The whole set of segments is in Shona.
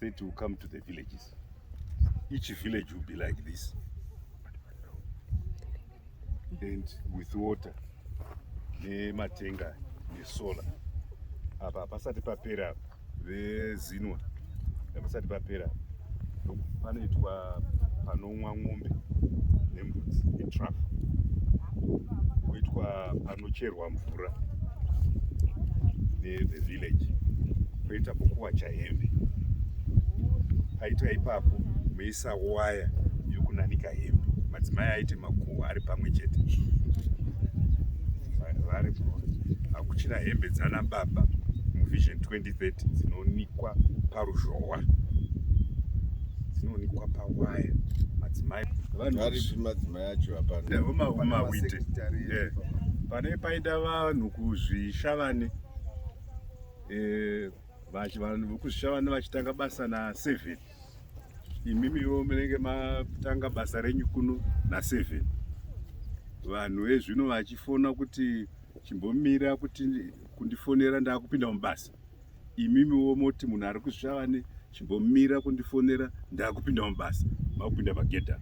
It will come to the villages. Each village will be like this. And with water, nematenga nesola apa hapasati papera vezinwa hapasati papera panoitwa panomwa mombe nembudzi itraf kuitwa Kunocherwa mvura the village koita pokuwacha hembe paitwa ipapo meisa waya yokunanika hembe madzimai aite makuhwa ari pamwe chete vari hakuchina hembe dzana baba muvision 2030 dzinonikwa paruzhowa dzinonikwa pawaya madzimai vanhu madzimai yacho hapana yeah, huma huma wite yeah. pane paita vanhu kuzvishavane eh, vanhu vekuzvishavane vachitanga basa na seven imimiwo munenge matanga basa renyu kuno na seven vanhu vezvino vachifona kuti chimbomira kuti kundifonera ndakupinda mubasa imimiwo moti munhu ari kusvava ne chimbomira kundifonera ndakupinda mubasa makupinda pagedha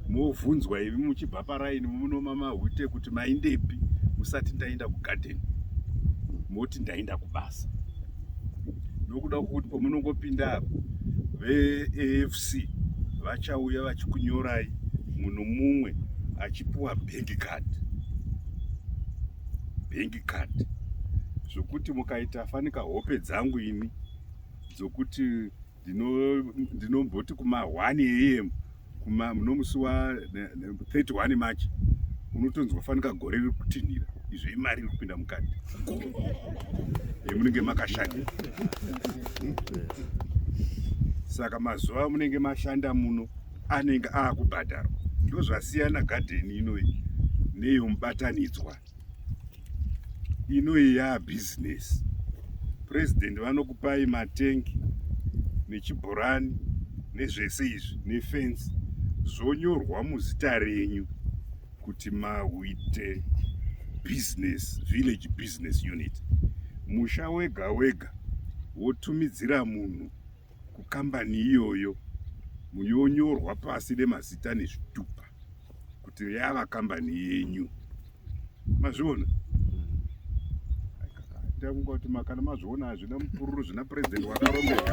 movhunzwa ivi muchibva paraini munomamahwite kuti maindepi musati ndaenda kugadeni moti ndaenda kubasa nokuda kwokuti pamunongopinda apo veafc vachauya vachikunyorai munhu mumwe achipiwa bank card card zvokuti mukaita fanika hope dzangu ini dzokuti ndinomboti kuma 1 am kuma nomusi wa 31 march unotonzwa fanika gore riri kutinhira izvo imari iri kupinda mukati yemunenge makashanda saka mazuva amunenge mashanda muno anenge aakubhadharwa ndozvasiyana gadheni inoyi neyomubatanidzwa inoyi yaa business president vanokupai matengi nechibhorani nezvese izvi nefensi zvonyorwa muzita renyu kuti mauite business village business unit musha wega wega wotumidzira munhu kukambani iyoyo muyonyorwa pasi nemazita nezvitupa kuti yava kambani yenyu mazviona ndakunga kuti makana mazviona hazvina mupururu zvina purezidenti wakarombeka